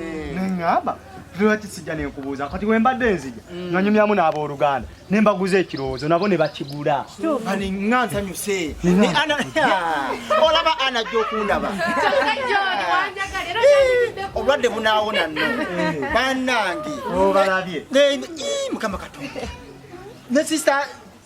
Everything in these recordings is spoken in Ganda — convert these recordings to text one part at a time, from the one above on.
eh. neŋŋamba lwaki sijja nenkubuuza kati we mbadde nzija mm. nanyumyamu n'abooluganda ne mbaguza ekirowoozo nabo ne bakigula nga nsanyuse olaba ana ajja okundaba obulwadde bunaawona no eh. bannange oh, eh, eh, mukama katonda ne sisita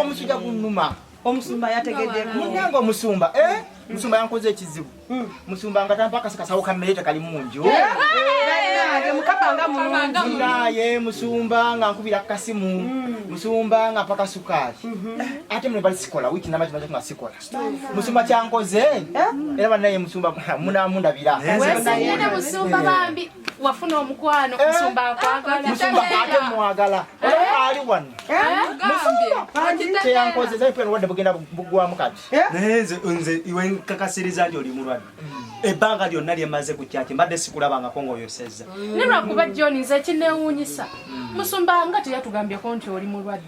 omusujja gunuma omusumba yategedde munange omusumba eh? musumba yankoze ekizibu hmm. musumba nga tampakasa kasawo kammere tekali mu nju naye musumba nga nkubira kukasimu hmm. musumba nga mpaka sukaali hmm. ate mune bali sikola wiki namakimaza nga sikola musumba kyankoze eh? era banaye musumba munamundabira wafuna omukwano eh? musumba akwagala musumba ate mwagala eh? eh? ali wano teyankozeza mpera obulwadde bugenda bugwamu kati naye nze iwe nkakasiriza nti oli mulwadde mm. ebbanga lyonna lyemaze ku kyaki mbadde sikulabangako ngaoyosezza mm. ne lwakuba john nze ekinewuunyisa mm. musumba nga teyatugambyeko nti oli mulwadde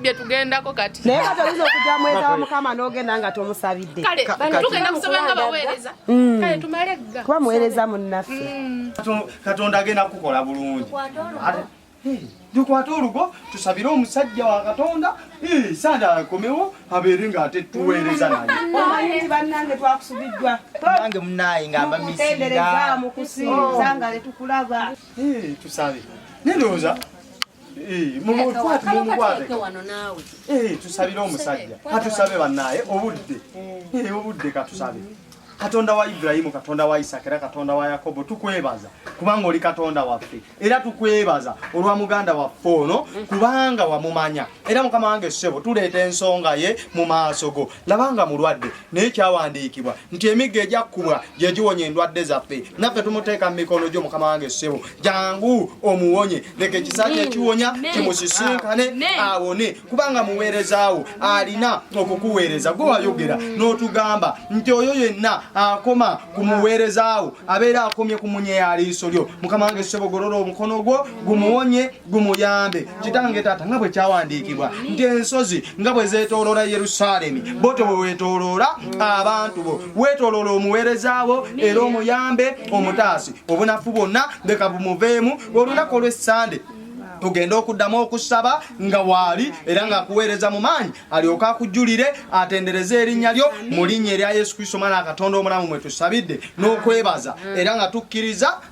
bye tugendako kati naye kati oyinza okujja mweza wa mukama n'ogenda nga tomusabidde tugenda kusaba nga baweereza mm. kale tumale gga kuba muweereza munnaffe mm. katonda agenda kukukola bulungi tukwate olugo tusabire omusajja wa katonda sanda akomewo abeere nga ate tuweereza nayeomanyi bannange twakusubiddwa nange munaye nga mbamisinga mukusinza nga letukulaba Eh, tusabe. Nendoza. Eh, mumu kwat mumu kwat. Eh, tusabira omusajja. Katusabe banaye obudde. Eh, obudde katusabe. Katonda wa Ibrahimu, Katonda wa Isaka, era Katonda wa Yakobo, tukwebaza kubanga oli Katonda waffe, era tukwebaza olwa muganda waffe ono kubanga wamumanya. Era mukama wange ssebo, tuleeta ensonga ye mu maaso go. laba nga mulwadde naye kyawandiikibwa nti emigga egyakkubwa gye giwonya endwadde zaffe naffe tumuteeka mu mikono gyo mukama wange ssebo jangu omuwonye leka ekisaki ekiwonya kimusisinkane awone kubanga muweerezaawo alina okukuweereza gwe wayogera n'otugamba nti oyo yenna akoma ku muweerezaawo abeera akomye ku munye yaliiso lyo mukama wange ssebo golola omukono gwo gumuwonye gumuyambe kitange taata nga bwe kyawandiikibwa nti ensozi nga bwe zeetooloola yerusaalemi bo te weweetooloola abantu bo weetooloola omuweereza wo era omuyambe omutaasi obunafu bwonna leka bumuveemu olunaku olw'essande tugenda okuddamu okusaba nga waali era ng'akuweereza mu maanyi alyoke akujjulire atendereze erinnya lyo mu linnya erya yesu kristo mwana katonda omulamu mwe tusabidde n'okwebaza era nga tukkiriza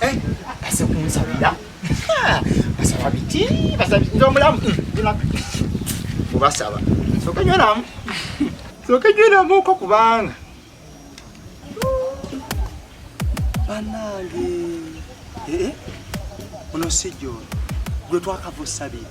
Eh, base kunsabira basaba biki basaba nze omulamu mubasaba hmm, soka nywenamu soka nywenamuko kubanga banange eh, eh, ono sijjo gwe twakava osabira